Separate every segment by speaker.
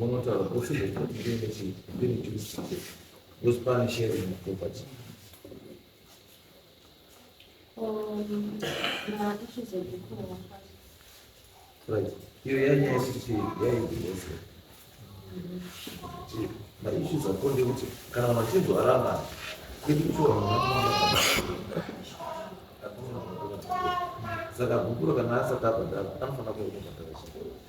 Speaker 1: munotaura kusi zvekuti ndiine chii ndine chii kusi pane sheri muproperty right iyo yanyaya sisi yaiiose maissues akonde kuti kana machinzo aramba kwedu kutora saka gukuro kana asati abhadhara anofanira kuoa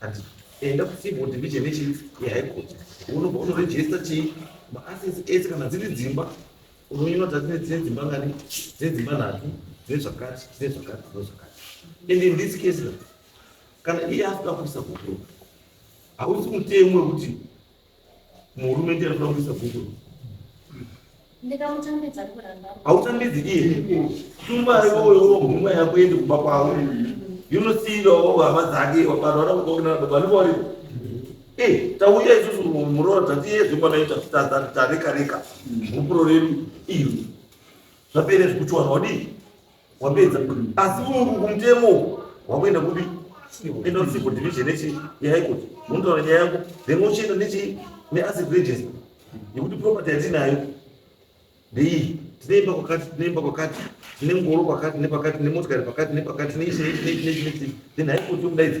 Speaker 1: Ati enda kucivil division yechief yeHigh Court unobva unoregister chii maassets ese kana dziri dzimba unonyora tati nedzine dzimba ngani dzine dzimba nhatu dzine zvakati dzine zvakati dzine zvakati and in this case kana iye asina kuisa kukuruka hausi mutemo wekuti Murume ndiye anoda kuisa bhuku. Ndikamutambidza kuramba. Hautambidzi iye. Tumba iwoyo huma yako yende kumba kwavo. Yunosiira wavo hama dzake vanhu vana kukokina baba ndipo varipo. Eh, tauya isusu muroora tati iye zvimba naita tata tareka reka. Mupuro redu iyo. Zvapere zvikuchwana wadii? wapedza asi kumutemo uku wakuenda kupi enda kusipo division nechi yehigh court unotaura nyaya yako then wochienda nechi neasset register yekuti property yatinayo ndeiyi tine imba kwakati tine imba kwakati tine ngoro kwakati nepakati tine motikari pakati nepakati nechi nechi nechi nechi then high court yokudaidza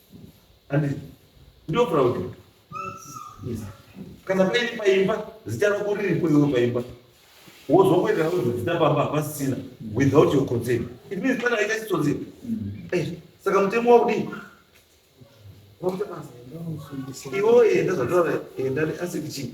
Speaker 1: Andizvo. Ndio proud. Yes. Kana pei paimba zita rako riri kwewe paimba. Wozwa kuenda kuti zita pamba pasina without your consent. It means kana aita chitsotsi. Mm. Eh, saka mutemo wakudii? Iwo enda zvataura enda asi kichii?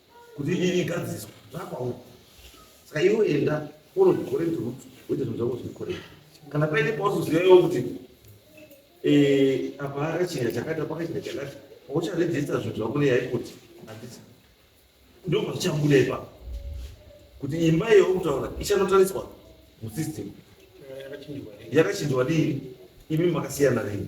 Speaker 1: kuti nyaya igadziswe zvakwawo saka iwo enda unozvikoreti rutsi wete zvinhu zvako zvikoreti kana paine pauzoziva iwo kuti eh, apa akachinja chakati apa akachinja chakati paucharejista zvinhu zvako neyaikuti handisa ndo pazvichabuda ipapo kuti imba iyo kutaura ichanotariswa musystem yakachinjwa dii imi makasiyana nei